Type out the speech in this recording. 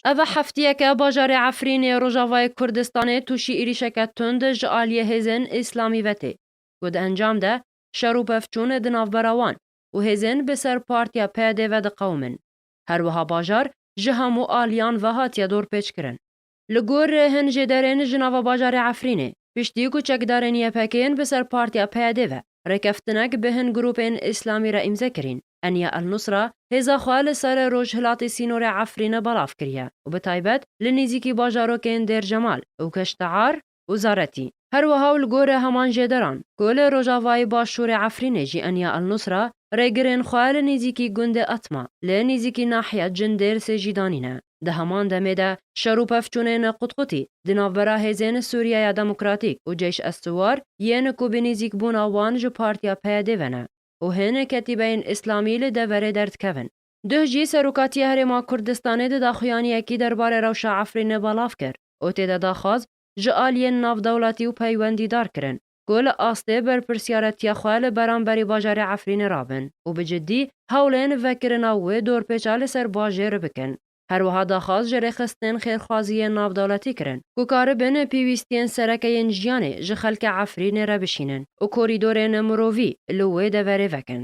Ev e hefteyeke bajarê Efrînê ê Rojavayê Kurdistanê tûşî êrîşeke tund ji aliyê hêzên Îslamî ve tê ku di encam de şer û pevçûn di navbera wan û hêzên bi ser partiya PYDê ve diqewimin. Her wiha bajar ji hemû aliyan ve hatiye dorpêçkirin. Li gor hin jê derên ji nava bajarê Efrînê, piştî ku çekdarên YPK'ên bi ser partiya PYD ve rêkeftinek bi hin grûpên îslamî re îmze kirîn, Enya El-Nusra hêza xwe li ser rojhilatê sînorê Efrîne belav kiriye û bi taybet li nîzîkî bajarokên Dêr Cemal û Keştear, Uzaretî, her wiha û li gorî heman jêderan ku li rojavayî başûrê Efrînê jî Enya Al-Nusra rêgirên xwe li nêzîkî gundê Atma li nêzîkî nahiya Cin Dêrsê jî danî ne. Di heman demê de şer û pevçûnên qutqutî di navbera hêzên Sûriyeya Demokratîk û Ceyş Es-Siwar yên ku bi nêzîkbûna wan ji Partiya PYD'ê ve ne û hin ketîbeyên Îslamî li deverê derdikevin, Duh jî Serokatiya Herêma Kurdistanê di daxuyaniyekî der barê rewşa Efrînê belav kir û tê de daxwaz ji aliyên navdewletî û peywendîdar kirin ku li astê berpirsyaretiya xwe li beramberî bajarê Efrînê rabin û bi cidî hewlên vekirina wê dorpêça li ser bajêr bikin. Her wiha daxwaz ji rêxistinên xêrxwaziyên navdewletî kirin ku karibin pêwîstiyên sereke yên jiyanê ji xelkê Efrînê re bişînin û korîdorên mirovî li wê deverê vekin.